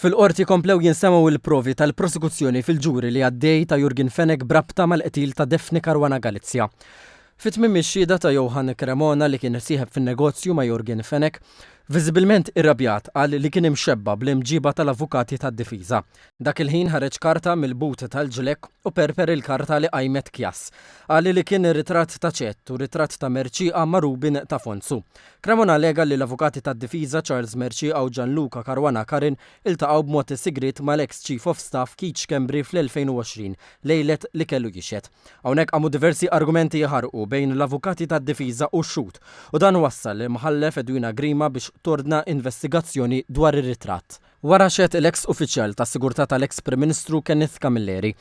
Fil-Qorti komplew jinsemgħu l-provi tal-prosekuzzjoni fil-ġuri li għaddej ta' Jurgen Fenech b'rabta mal-qtil ta' Daphne Caruana Galizia. Fi tmiem ix-xhieda ta' Johann Cremona li kien sieħeb fin-negozju ma' Jurgen Fenech, viżibilment irrabjat qal li kien imxebba' bl-imġiba tal-avukati tad-difiża. Dak il-ħin ħareġ karta mill-but tal-ġlekk u perper il-karta li qajmet Chias. Qal li kien ritratt ta' Chet u ritratt ta' Mercieqa ma' Rubin ta' Fonzu. Cremona allega li l-avukati tad-difiża Charles Mercieca u Gianluca Caruana Carin iltaqgħu b'mod sigriet mal-eks Chief of Staff Keith Schembri fl-2020, lejlet li kellu jixhed. Hawnhekk qamu diversi argumenti jħarrqu bejn l-avukati tad-difiża u x-xhud u dan wassal lill-Mħallef Edwina Grima biex tordna investigazzjoni dwar ir-ritratt. Wara xehed l-eks uffiċjal tas-sigurtà tal-eks Prim Ministru Kenneth Camilleri.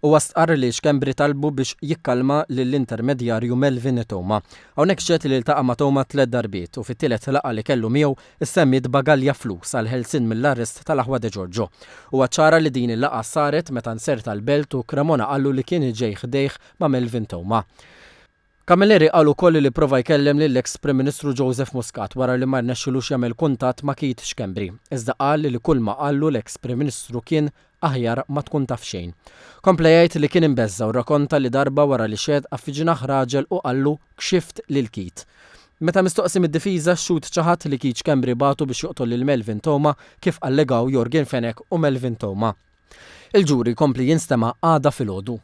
Huwa stqarr li Schembri talbu biex jikkalma lill-intermedjarju Melvin Theuma. Hawnhekk xehed li ltaqa' ma' Theuma tliet darbiet u fit-tielet laqgħa li kellu miegħu ssemmiet bagalja flus għall-ħelsien mill-arrest tal-aħwa De Giorgio. Huwa ċċara li din il-laqgħa saret meta nzerta l-belt u Cremona qallu li kien ġej ħdejh ma' Melvin Theuma. Camilleri qal ukoll li pprova jkellem lill-eks Prim Ministru Joseph Muscat wara li ma rnexxilux jagħmel kuntatt ma' Keith Schembri, iżda qal li kulma qallu l-eks Prim Ministru kien aħjar ma tkun taf xejn. Kompla jgħid li kien imbeżża' u rrakonta li darba wara li xeddqha fi ġnah raġel u qallu Kxift lil Keith. Meta mistoqsi mid-difiża x-xhud ċaħad li Keith Schembri bagħtu biex joqtol lil Melvin Theuma kif allegaw Yorgen Fenech u Melvin Theuma. Il-ġuri jkompli jinstema' għada filgħodu.